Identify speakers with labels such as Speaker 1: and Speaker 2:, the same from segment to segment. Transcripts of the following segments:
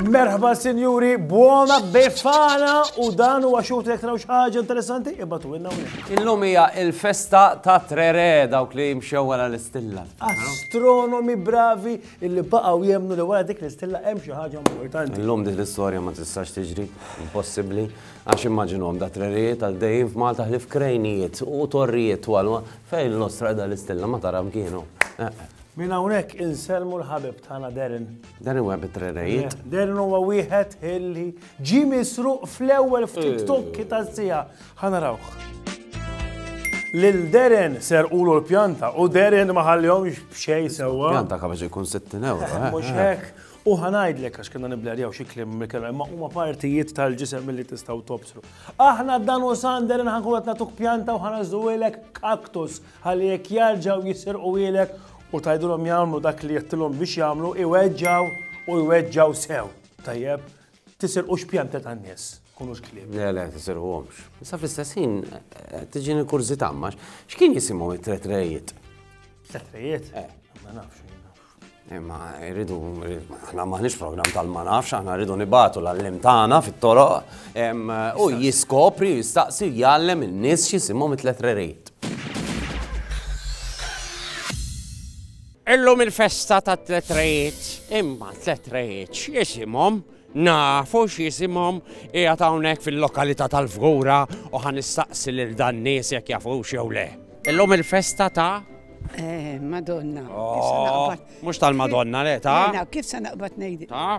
Speaker 1: Merħba sinjuri, buona befana u dan huwa xut jekk traw ħaġa interessanti, ibatu inna Illum hija il-festa ta' Trere dawk li jimxew wara l-istilla. Astronomi bravi illi baqgħu jemmnu li wara dik l-istilla hemm xi ħaġa importanti. Illum din l-istorja ma tistax tiġri, impossibbli, għax immaġinhom da trerijiet għaddejjin f'Malta ħlif krejnijiet u torrijiet twal fejn l-ostra da l-istilla ma tara mkienu. Eh, eh. Minn hawnhekk insellmu l-ħabib tagħna Darren. Darren huwa bit-trerrejiet. Darren huwa wieħed illi ġi misruq fl-ewwel ftit eh. tokki tas-sija Ħa narawh. Lil Darren serqulu l-pjanta u Darren ma ħallihomx b'xejn sewwa. Pjanta kapaċi jkun 60 euro. Eh, eh, mhux eh. hekk. U ħanajdlek għax kienna niblerjaw xi klim mikela, imma huma partijiet tal-ġisem li tistgħu tobsru. Aħna dan u sander nħankun qed nagħtuk pjanta u ħanażżuwilek kaktus ħalli jekk jarġgħu jisirqu ilek u tajdulhom jagħmlu dak li jettilhom biex jagħmlu iweġġaw u jweġġaw sew. Tajjeb, Tisirqux pjanta tan-nies, tkunux klieb. Le, le, tisirquhomx. Issa fl-istess ħin tiġini l-kurżità ma x'kien jisimgħu it-tretrejiet? Tretrejiet? Eh. Ma nafx. Imma eh, rridu, aħna maħniex program tal-ma nafx, aħna rridu nibatu l-allim tagħna fit-toroq u jiskopri, jistaqsi, jgħallem in-nies x'jisimhom it-tletrerit. Illum il-festa ta' tlet rejiet, imma tlet rejiet x'jisimhom? Nafu x'jisimhom qiegħed hawnhekk fil-lokalità tal-Fgura u ħa nistaqsi lil dan nies jekk jafux jew le. Illum il-festa ta' eh, Madonna. Oh, mhux tal-Madonna le ta' Kif se naqbad ngħid? Ta'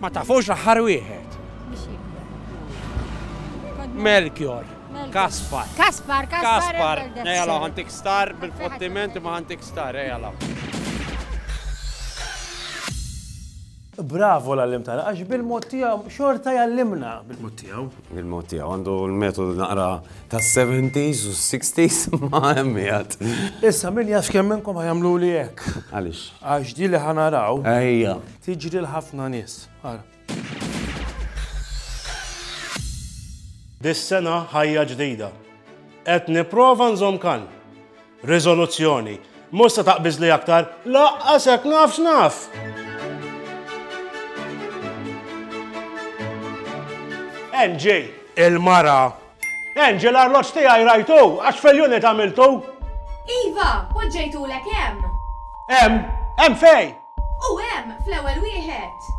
Speaker 1: Ma tafux l-aħħar wieħed. Melchior. Kaspar. Kaspar, Kaspar. Ejala, għantik star bil-fottiment ma għantik star, ejala. Bravo l-għallim tagħna, għax bil-mod tiegħu xorta jallimna bil-mod tiegħu. Il-mod tiegħu għandu l-metodu naqra tas-70s u s-60s ma hemm qiegħed. Issa min jaf kemm minnkom ħajamlu li hekk. Għaliex? Għax di li ħanaraw. Ejja. Tiġri l-ħafna nies. Ara. Dis-sena ħajja ġdida. Qed nipprova nżomm kan. Riżoluzzjoni. Mhux se taqbiżli aktar? Laqqas hekk naf x'naf! NJ. Il-mara. NJ l-arloġġ tiegħi rajtu, għax fil-unit għamiltu. Iva, poġġejtulek hemm. Hemm? Hemm fejn? U hemm fl-ewwel wieħed!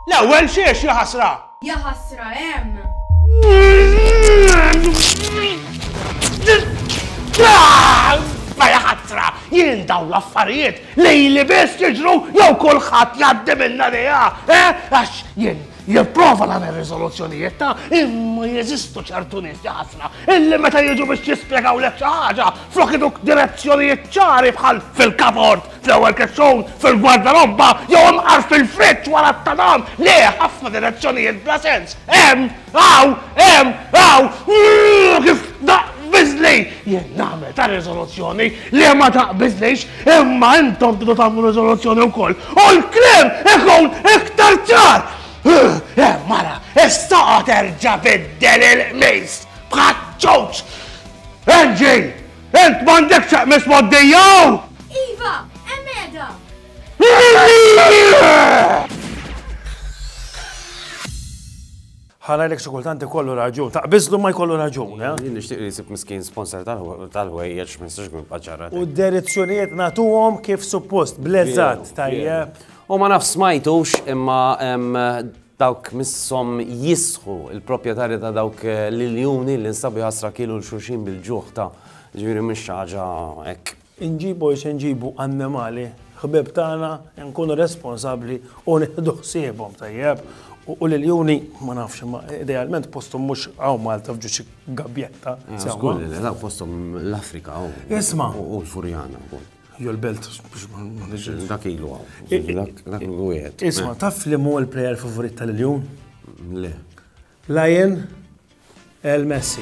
Speaker 1: L-ewwel xiex, ja ħasra! Ja ħasra hemm! Ma ja ħasra, jien daw l-affarijiet li li biss jiġru jew kulħadd jgħaddi minna dejja, eh? Għax jien jipprova nagħmel riżoluzzjonijiet ta' imma jeżistu ċertu nies ħafna illi meta jiġu biex jispjegaw lek xi ħaġa flok iduk direzzjonijiet ċari bħal fil-kabord Fl-ewwel kessun, fil-gwardarobba, jew imqar fil-friġġ wara t-tadam. Le, ħafna direzzjonijiet bla sens. Hemm, hawn, hemm, hawn. Ooh, kif taqbiżli! Jien nagħmel ta' riżoluzzjoni li ma taqbiżlix, imma intom tridu tagħmlu riżoluzzjoni wkoll u l-kliem ikun iktar ċar! Eh, mara, issa għad erġa' biddel il-qmis bħaċ-ċuċ! Angie! Int m'għandek x'aqmes moddija! Iva, hemm qiegħda! ħana l-ek xikultanti kollu raġun, ta' bizlu ma jkollu raġun, eh? Jien nixtieq li jsib miskin sponsor tal-ħwejjeġ ma jistax kun paċara. U d-direzzjonijiet nagħtuhom kif suppost, blezzat tajjeb. U ma nafx smajtux imma Dawk misshom jisħu, il-proprjetarji ta' dawk l-iljuni li nstabu jħassra kielu 'l xulxin bil-ġuħ ta', jiġifieri mhux xi ħaġa hekk. Inġibu li se nġibu annimali ħbieb tagħna, inkunu responsabbli u nieħdu ħsiebhom tajjeb. U l-iljuni, ma nafx, imma idealment posthom mhux hawn Malta f'ġo xi gabbjetta. Żgur li le, dawk posthom l-Afrika u l-Furjana. Jew l-belt, biex ma nġilx. Dak ilu għaw. Dak ilu għed. Isma, taf li mu l-player favorit tal-iljum? Le. Lion El Messi.